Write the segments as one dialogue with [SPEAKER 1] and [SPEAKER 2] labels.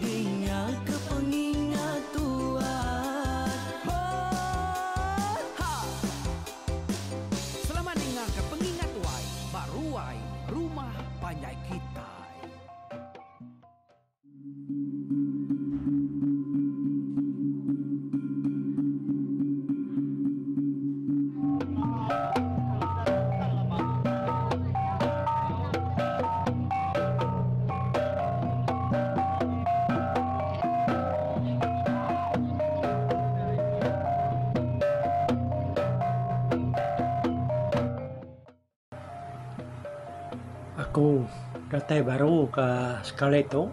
[SPEAKER 1] Dingaka pengingat tuah hoo ha. Selamat dingaka pengingat tuai ba ruai rumah panjai kitai. Aku datai baru ke sekali tu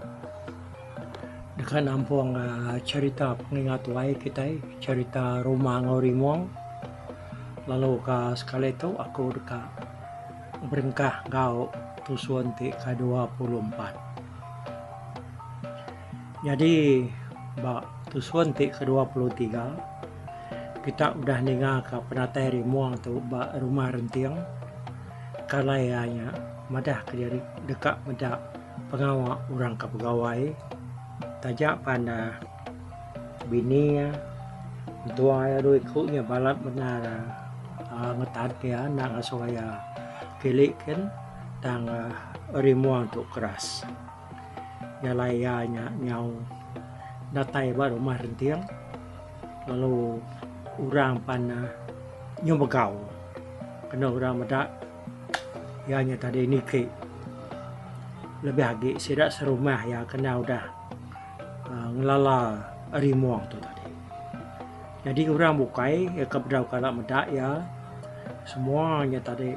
[SPEAKER 1] deka nampung aaa cherita pengingat tuai kitai cherita rumah enggau rimung lalu ka sekali tu aku deka Berengkah enggau tusun ti kedua puluh empat. Nyadi ba tusun ti kedua puluh tiga, kita udah ningaka penatai rimung tu ba Rumah Renting, kalai iya nya madah ke diri deka meda pengawa orang ke begawai taja pan da. Bini iya, mentua iya dua iku nya balat bendar uhh ngetat iya enda ngasuh iya kili kin tang uhh rimung tu keras. Jalai iya nya nyau datai ba rumah renting lalu orang pan uhh nyau megau kenu orang meda iya nya tadi niki lebih agi sida serumah iya kena udah. ngelala ari mung tu tadi nyadi orang bukai iya ke bedau kala meda iya semua nya tadi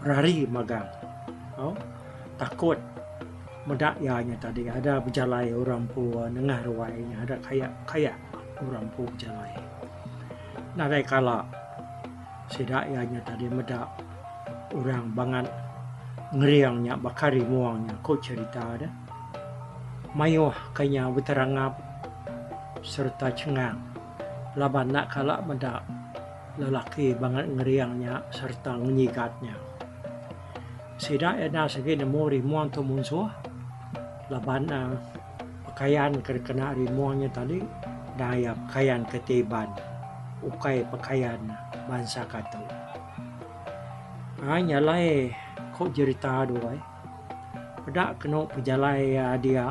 [SPEAKER 1] berari magang tau takut meda iya nya tadi ada bejalai orang empu nengah ruai nya ada kayak kayak orang empu bejalai nadai kala sida iya nya tadi meda orang bangat ngering nya baka ari mung nya ku cerita deh. Mayuh ka nya beterangap sereta chengang laban enda kala meda lelaki bangat ngering nya sereta ngenyigat nya. Sida Enas agi nemu rimung tu munsuh laban ne pekayan ke dikena rimung nya tadi enda iya pekayan ke ti iban ukai pekayan bansa Katu. Ai nya alai ku jerita doi. Peda kenu pejalai dia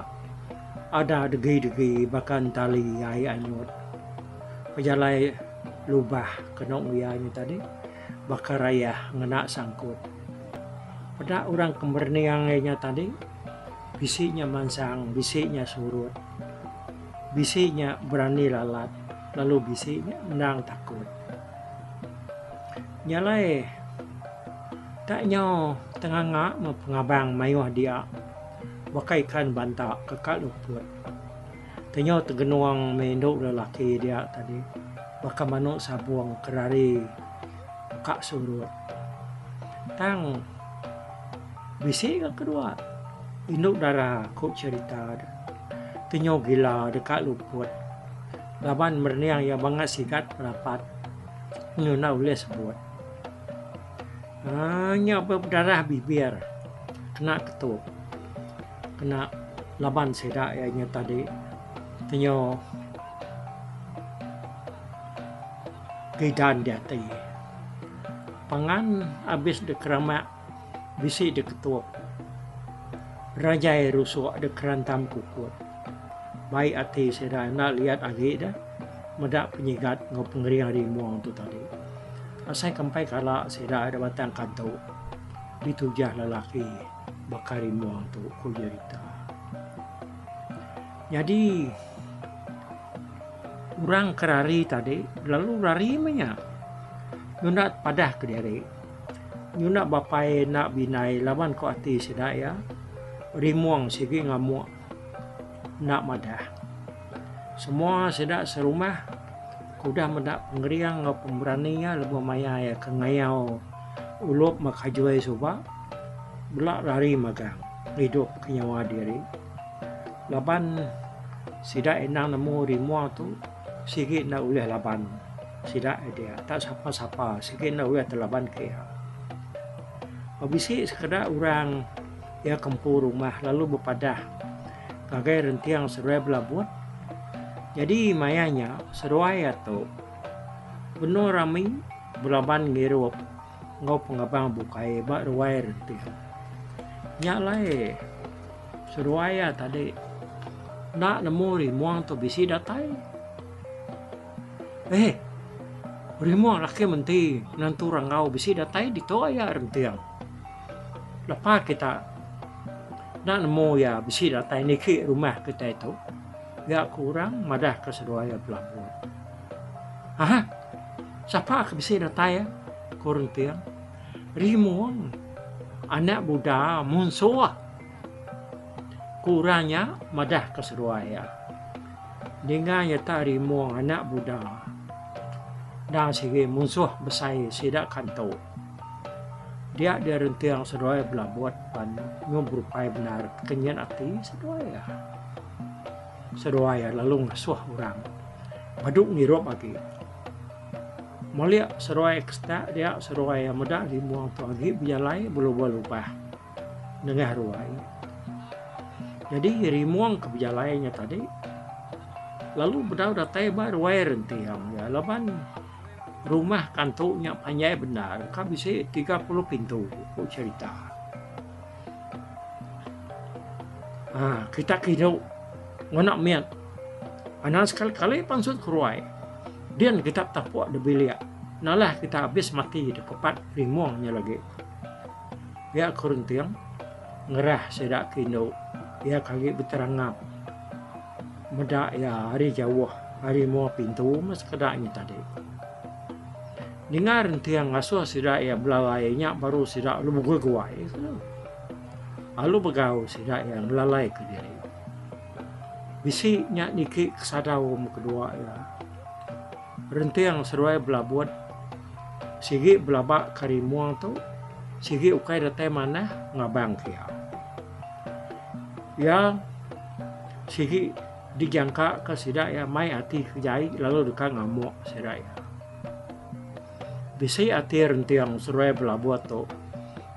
[SPEAKER 1] ada degi-degi baka entali ai anyut. Pejalai lubah kenu iya nya tadi baka rayah ngena sangkut. Peda orang ke merening iya nya tadi bisi nya mansang, bisi nya surut, bisi nya berani lalat lalu bisi nya endang takut. Nya alai. Tak nyau tenganga meh pengabang mayuh dia baka ikan banta ke ka luput. Tenyau tegenung meh indu lelaki dia tadi baka manu sabung ke rari ka surut. Tang bisi ka kedua indu dara ku cherita deh tenyau gila deh ka luput laban merening iya bangat sigat rapat ngenyau ulih sebut. Ha, nya ba bedarah bibir kena ketup. Kena laban sida iya nya tadi penyu gidan diati. Pangan abis dikeramak bisi diketup. Rajai rusuk dikerantam kukut. Baik ati sida enda liat agi deh meda penyigat enggau pengering ari mung tu tadi. Asai ke empai kala sida da batang kantu ditujah lelaki baka rimong tu, ku Jerita. Nyadi orang ke rari tadi lalu rari meh nya. Nunda padah ke diri. Nunda bapai enda bindai laban ku ati sida iya rimong sigi ngamuk. Enda madah. Semua sida serumah ke udah meda pengering enggau pemberani iya lebuh maya iya ke ngayau Ulup Makajoi suba bela lari magang ngidupka nyawa diri laban sida endang nemu rimau tu sigi enda ulih laban sida aja dia tak sapa-sapa sigi enda ulih telabanka iya. Ba bisi sekeda orang. Iya ke empu rumah lalu bepadah, Ngagai renting seruai belabut. Jadi maya nya, seruai iya tu benung rami belaban ngirup enggau pengabang bukai ba ruai renting. Nya alai seruai iya tadi enda nemu rimung tu bisi datai. Eh, rimung laki menti nentu rangau bisi datai ditu iya renting. Lepa kita enda nemu iya bisi datai niki rumah kitai tu, ga ku orang madah ke seduai iya belabut. Aha, sapa ke bisi datai iya? ku Renting. Rimung, anak buda munsuh. Ku orang nya madah ke seduai iya. Ninga nyata Rimung anak buda, endang sigi munsuh besai sida kantu. Dia dia renting seduai belabut pan nyum berupai bendar kenyit ati seduai iya. Seduai iya lalu ngasuh orang badu ngirup agi. Mulik seduai ekstak dia seduai iya meda limung tu agi bejalai belubah-lubah nengah ruai. Jadi rimung ke bejalai nya tadi lalu bedau datai ba ruai renting iya laban Rumah kantu nya panjai bendar ka bisi tiga puluh pintu, ku cherita. Haa kitak ke hidup ngena mit anak sekali kali pansut keruai din kitak tapuk da bilik nalah kitak habis mati da kepat rimung nya lagi. Pia ke renting ngerah sida ke indu iya ke agi beterangap. Meda iya ari jauh, ari mua pintu meh sekeda nya tadi. Ningar enting ngasuh sida iya belalai nya baru sida alu beguai-guai ke. Alu begau sida iya ngelalaika diri. Bisi nya niki ke sadau meh kedua iya. Renting seduai belabut sigi belaba ke ari mua tu, sigi ukai datai manah ngabangka iya. Iya sigi dijangka ka sida iya mai ati ke jai lalu deka ngamuk sida iya. Bisi ati renting seruai belabut tu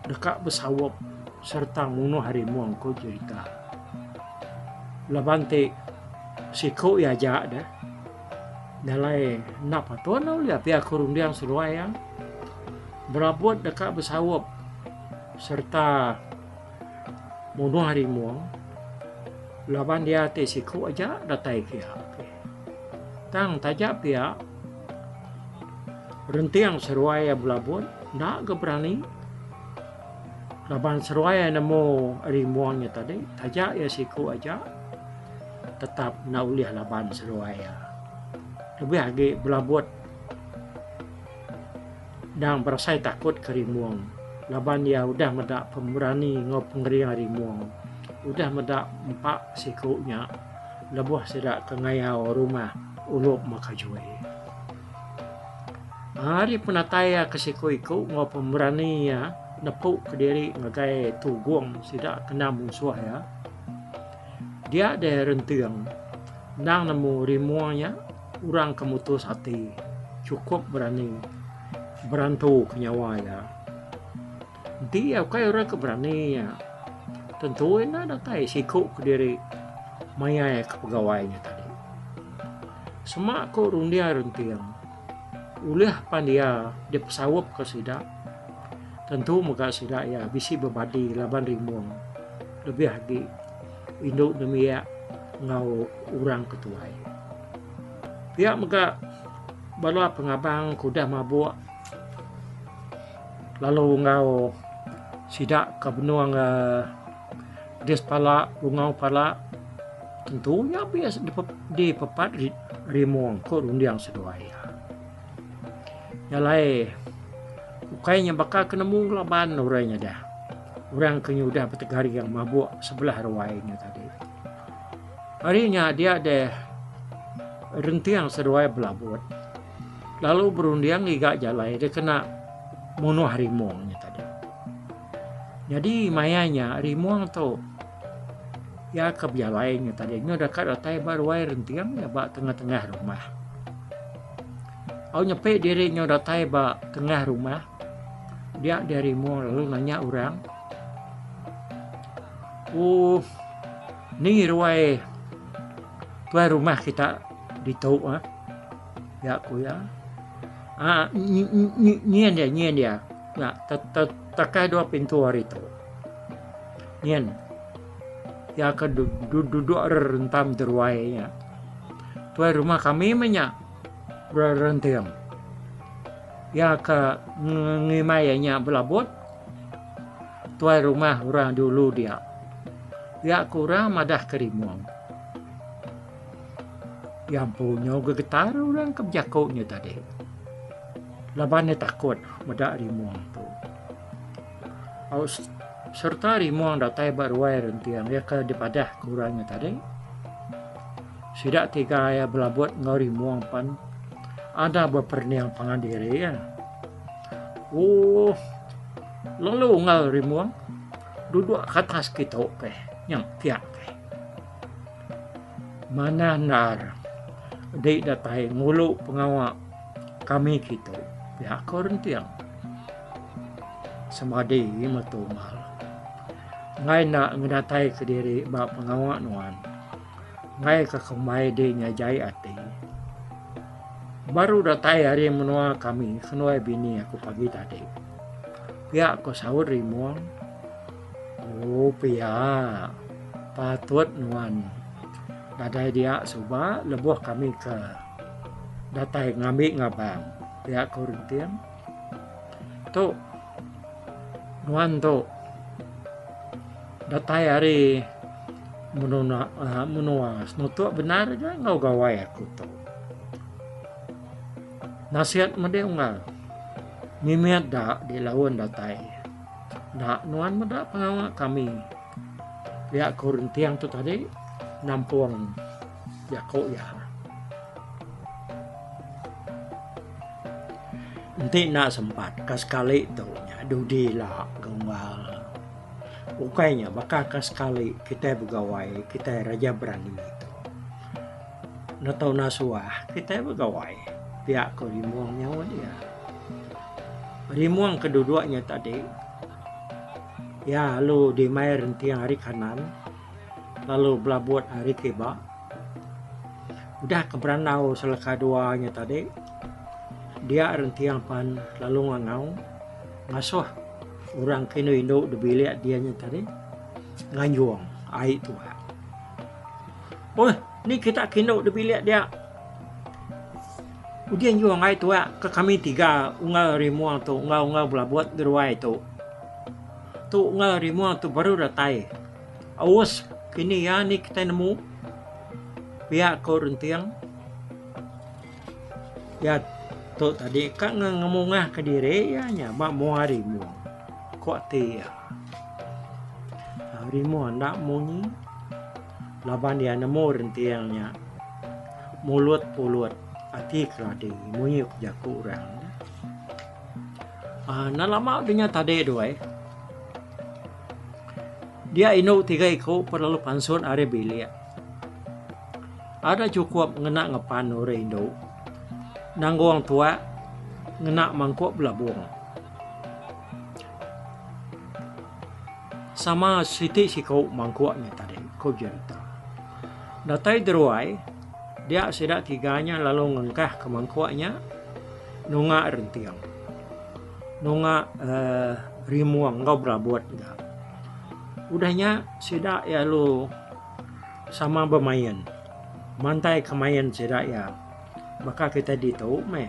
[SPEAKER 1] deka besaup sereta munuh ari mung ku jerita. Laban ti siku iya aja deh nalai enda patut enda ulih pia ku runding seruai iya. Belabut deka besaup sereta Munuh ari mung laban dia ti siku aja datai kia. Tang taja pia renting seruai ya belabut enda ke berani laban seruai ya nemu ari mung nya tadi taja ya siku aja tetap enda ulih laban seruai ya. Lebih agi belabut Endang berasai takut ke Rimung laban iya udah meda pemberani enggau pengering ari Mung. Udah meda empa siku nya lebuh sida ke ngayau rumah Ulup Makajui. Ari penatai iya ke siku iku enggau pemberani iya nepu ke diri ngagai Tugung sida kena munsuh iya, dia deh renting endang nemu Rimung nya. Orang ke mutus ati chukup berani berantuka nyawa iya. Enti iya ukai orang ke berani nya, tentu iya enda datai siku kediri maiaika pegawai nya tadi. Sema ku runding renting, ulih pan iya dipesauka sida, tentu mega sida iya bisi bebadi laban rimung lebih agi. Indu nembiak enggau orang ke tuai. Pia mega bala pengabang ke udah mabuk lalu enggau sida ke benung um pedis pala bungau pala tentu nya best dipepat rimung ko runding seduai iya. Nya alai, ukai nya baka ke nemu laban orang nya dah. Orang ke nya udah betegaring mabuk sebelah ruai nya tadi. Hari nya dia deh renting seruai belabut. Lalu berunding ngiga jalai dia kena munuh rimung nya tadi. Nyadi maya nya rimung tu Iya ke bejalai nya tadi nya deka datai ba ruai renting iya ba tengah-tengah rumah. Au nyepi diri nya datai ba tengah rumah. Dia dia rimu lalu nanya orang. Oh, ni ruai tuai rumah kita ditu ah. Ya ku ya. Ah, nyen dia, nyen dia. Ya, tetekai dua pintu hari tu. Nyin. Iya ke duduk rerentam teruai nya. Tuai rumah kami meh nya. Berenting. Iya ke ngimai iya nya belabot. Tuai rumah orang dulu dia. Iya ke orang madah ke rimung. Iya empu nyau gegetar orang ke bejaku nya tadi. Laban iya takut meda rimung tu. Aus serta rimong datai ba ruai renting iya ke dipadah ke orang nya tadi. Sida tiga iya belabot enggau rimong pan ada beperening pangan diri iya. Oh, lalu enggau rimong duduk ke atas kitu peh nyang pia peh. Manah endar di datai ngulu pengawa Kami kitu, pihak Kaul Renting, semadi metu mal enggai enda ngenataika diri ba pengawa nuan enggai ke kembai di nyajai ati. Baru datai ari menua kami seduai bini aku pagi tadi, pia ko Saud Rimong. Oh pia, patut nuan nadai dia suba lebuh kami ke. Datai ngambi ngabang pia ko Rinting. Tu nuan tu datai ari menua uh, menua senutuk benar ga ngau gawai aku tu. Nasihat mending unggal. Mimit da di laun datai. Nak nuan meda pengawa kami. Pia ko Rinting tu tadi nampung Jaku iya. Enti enda sempat ka sekali tu nya dudi ila gumbal. Ukai nya baka ka sekali kitai begawai kitai raja berani tu. Enda tau enda suah kitai begawai pia ko Rimong nyaut iya. Rimong ke duduk nya tadi iya lalu di mai rentiang ari kanan lalu belabut ari ti ba udah ke berandau seleka dua nya tadi dia rentiang pan lalu ngangau ngasuh orang ke indu indu di bilik dia nya tadi nganjung ai tuak Oi, ni kita kindu di bilik dia. Ujian juang ai tuak ke kami tiga unggal rimung tu, unggal-unggal belabut geruai tu. Tu enggau ari mua tu baru datai aus kini iya ni kitai nemu pia ko renting iya tu tadi ka ngemungah ka diri iya nya ba mua ari mua ko ati iya ari mua enda munyi laban iya nemu renting nya mulut pulut ati keladi munyi ko jaku orang. Ah, nan lama dunya tadi tu ai. Dia indu tiga iku perlalu pansut ari bilik. Ada cukup ngena ngepan orang indu. Nanggung tua ngena mangkuk belabung. Sama siti siku mangkuk ni tadi, ku Jerita. Datai deruai, dia sida tiga nya lalu ngengkah ke mangkuk nya Nunga renting. Nunga rimung enggau berabut ga. Udah nya sida iya lalu sama bemain. Mantai ke main sida iya baka kitai ditu meh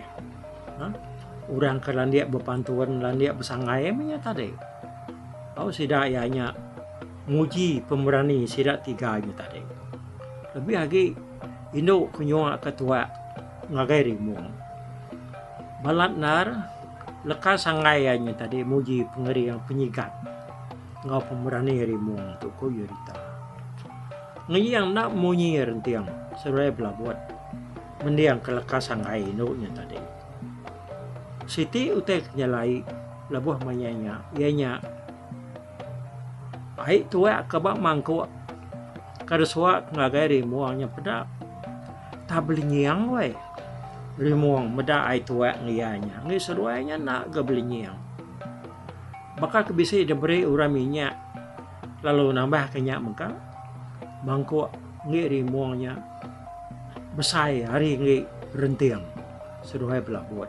[SPEAKER 1] orang ke landik bepantun landik besangai meh nya tadi. Tau sida iya nya nguji pemerani sida tiga nya tadi. Lebih agi indu ke nyuaka tuak. Ngagai rimu. Balat endar leka sanggai iya nya tadi muji pengering penyigat enggau pemberani rimu tu, ku Yurita. Ngiyang enda munyi renting seduai belabut mendingka leka sanggai indu nya tadi. Siti utai ke nyelai lebuh maya nya iya nya, Ai tuak ke ba mangkuk ke disuak ngagai rimung nya peda tang belinying weh rimung meda ai tuak ngan iya nya ngi seduai nya enda ga belinying baka ke bisi diberi orang minyak lalu nambah ke nya mega mangkuk ngi rimung nya besai ari ngi renting seduai belabot.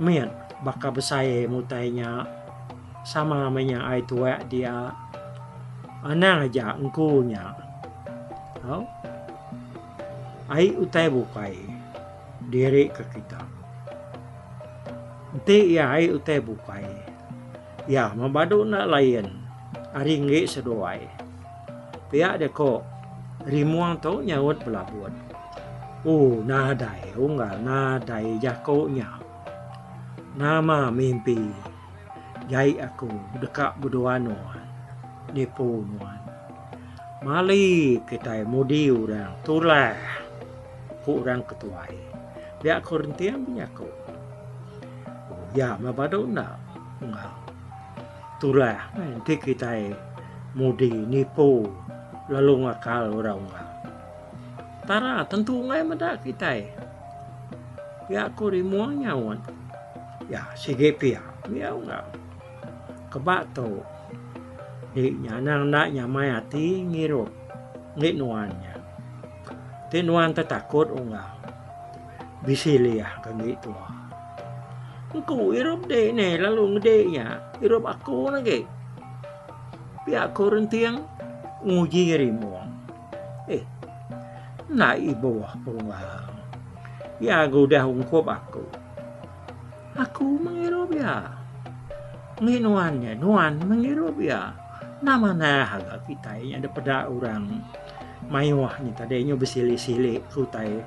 [SPEAKER 1] Mit, baka besai mutai nya sama meh nya ai tuak dia. Anang aja engku nya. Au. Ai utai bukai diri ke kita. Enti iya ai utai bukai. Iya mebadu enda lain ari enggi seduai. Pia dia ko Rimong tu nyaut belabut. Ooh nadai unggal nadai jako nya. Nama mimpi jai aku deka bedua nuan nipu nuan. Mali kitai mudi orang tulah. Ku orang ke tuai. Pia ko Renting benyaku. Oh iya meh badu enda enggau turah meh enti kitai mudi nipu lalu ngakal orang unggal. Tara tentu angai meda kitai. Pia ko Rimong nyaut. Iya sigi pia mih au enggau. Keba tu nya anang enda nyamai ati ngirup ngi nuan nya. Ti nuan tetakut unggal bisi liah ke agi tua. Engku irup dek ne lalu ngedek nya irup aku lagi. Pia aku renting nguji rimung. Eh. Enda ibuh perunggang. Ia gudah ungkup aku. Aku mengirup ia. Ngi nuan nya nuan mengirup ia. Enda manah agak kitai nya dipeda orang mayuh nya tadi nyu besili-sili ke utai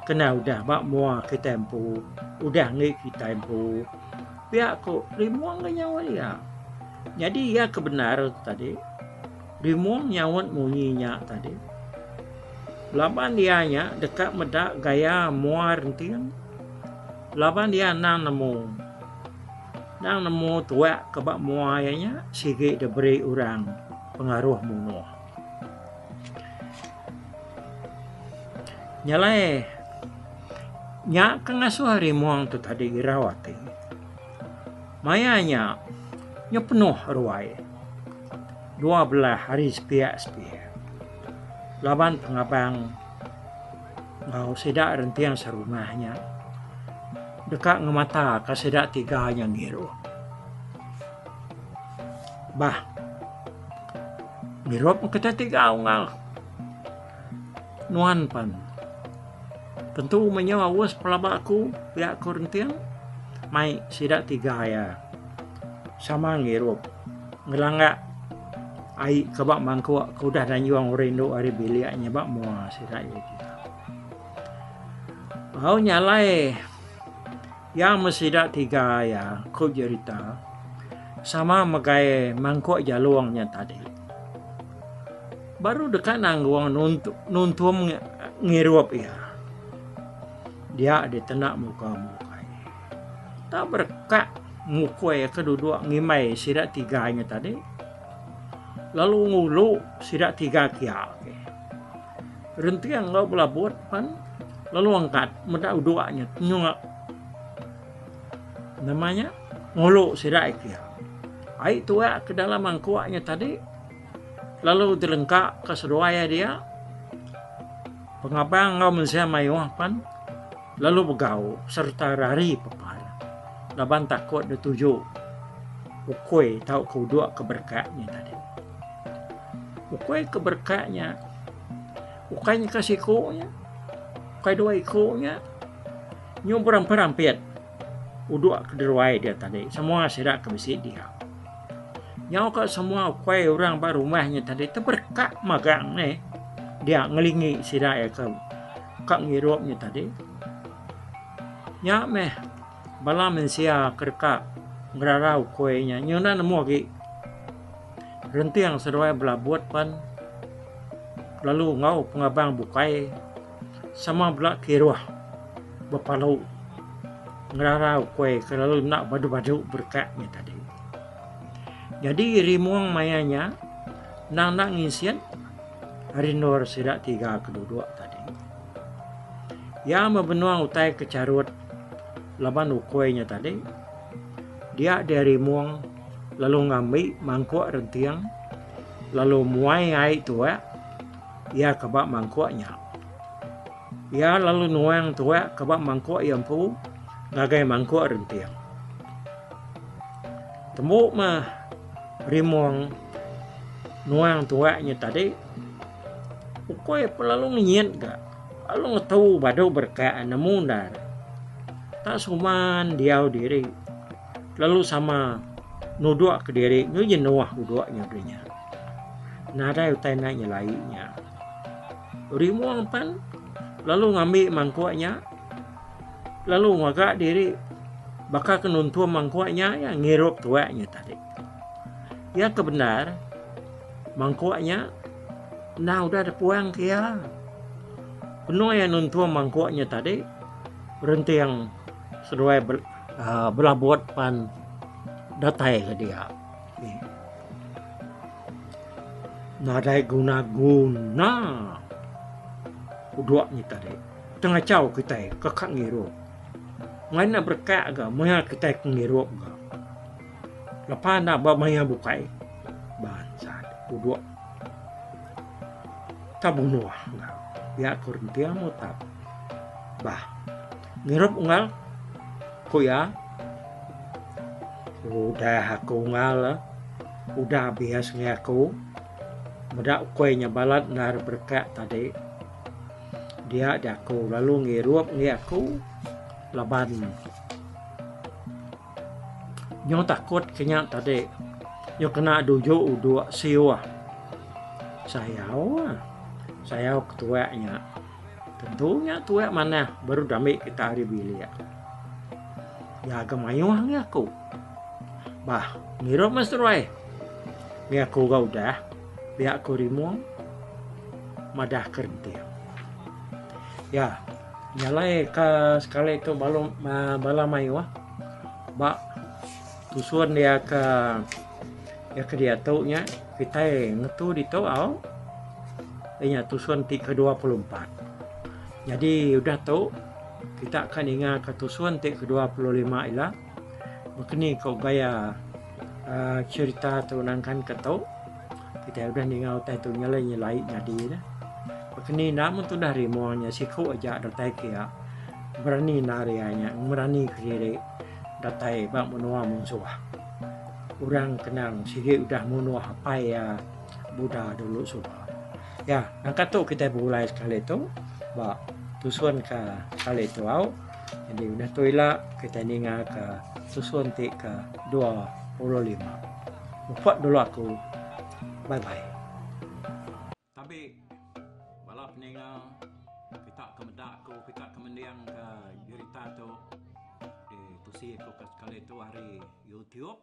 [SPEAKER 1] kena udah ba mua kitai empu udah enggi kitai empu pia ku rimung ga nyaut iya. Nyadi iya ke bendar tadi rimung nyaut munyi nya tadi laban iya nya deka meda gaya mua renting laban iya endang nemu Endang nemu tuak ke ba mua iya nya sigi diberi orang pengaruh munuh. Nya alai nya ke ngasuh ari mung tu tadi irau ati. Maya nya nya penuh ruai dua belah ari sepiak sepiak laban pengabang enggau sida renting serumah nya deka ngemataka sida tiga nya ngiru. Bah. Ngirup kita tiga unggal. Nuan pan. Tentu menyo awas pelaba aku, pia aku renting. Mai sida tiga ya. Sama ngirup. Ngelanggak ai ke ba mangkuk ke udah danjung rindu ari bilik nya ba mua sida iya kitai. Au nya alai iya meh sida tiga iya ku Jerita sama megai mangkuk jalung nya tadi. Baru deka nanggung nuntung ngirup iya. Dia ditenda muka mukai. Tau bereka ngukui ke duduk ngimbai sida tiga nya tadi lalu ngulu sida tiga kia agi. Renting enggau belabut pan lalu angkat meda uduk nya tenyuk nama nya ngulu sida kia. Ai tuak ke dalam mangkuk nya tadi lalu dilengka ke seduai iya dia pengabang enggau mensia mayuh pan Lalu begau sereta rari pepar laban takut dituju ukui tauka uduk ke berekat nya tadi. Ukui ke berekat nya ukai nyeka siku nya, ukai dua iku nya nyu berampit-rampit uduk ke deruai dia tadi semua sida ke bisi diau. Nyauka semua ukui orang ba rumah nya tadi teberekat magang meh dia ngelingi sida iya ke Ka ngirup nya tadi. Nya meh bala mensia ke deka ngerara ukui nya. Nya enda nemu agi renting seduai belabut pan lalu enggau pengabang bukai sama bela kiruh bepalu ngerara ukui ke lalu enda badu-badu berkat nya tadi. Jadi rimung maya nya nang enda nginsik Ari endur sida tiga ke duduk tadi. Iya mebenung utai ke charut laban ukui nya tadi. Dia dia rimung lalu ngambi mangkuk renting lalu muai ai tuak iya ke ba mangkuk nya. Iya lalu nuang tuak ke ba mangkuk iya empu ngagai mangkuk renting. Tembu meh rimung Nuang tuak nya tadi ukoi pun lalu ngenyit ga lalu ngetu badu berkat nemu ndar. Tak suman diau diri lalu sama nuduk ke diri nyu jenuh uduk nya dulu nya. Nadai utai nak nyelai nya. Rimung pan lalu ngambi mangkuk nya lalu ngaga diri baka ke nuntung mangkuk nya iya ngirup tuak nya tadi. Iya ke bendar mangkuk nya enda udah dipuang ke iya. Penuh iya nuntung mangkuk nya tadi renting seduai ah, belabut pan datai ke dia. Nadai guna-guna uduk ni tadi. Tengah caw kita ke kak ngirup. Main nak berkak ke, mengah kita ke ngirup ke. Lepa enda ba maya bukai bansa duduk ka bunuh enggau pia ko renting utap bah ngirup unggal ko iya udah aku unggal udah bias ngi aku meda ukoi nya balat endar berekak tadi dia jaku lalu ngirup ngi aku laban Nyo takut ke nya tadi nyo kena duju uduk siuh sayau ah sayau ke tuak nya tentu nya tuak manah baru dami kita ari bilik iya ga mayuh ngan aku bah ngirup meh seruai ngan aku ga udah pia aku rimung madah ke renting iya. Jalai ka sekali tu balum bala mayuh ba tusun dia ka dia ke diatu nya kitai ngetu ditu au iya nya tusun ti ke dua puluh empat nyadi udah tu kita ka ninga ka tusun ti ke dua puluh lima ila meh ke ni ko gaya aaa cherita tu nangkan ke tu. Kitai udah ninga utai tu nyelai nyelai nyadi dah. Pakeni enda mun tudah rimo nya siku aja datai kia. Berani enda ari iya nya ngemerani kediri datai ba menua munsuh. Orang kenang sigi udah munuh apai iya Buddha dulu suba. Ya, nangka tu kitai begulai sekali tu ba tusun ke kali tu au. Jadi udah tu ila kitai ninga ke tusun ti ke 25. Upah dulu aku. Bye bye. Tabi bala peninga kita ke meda aku kita ke mending ke berita tu di tusi aku ke sekali tu hari YouTube.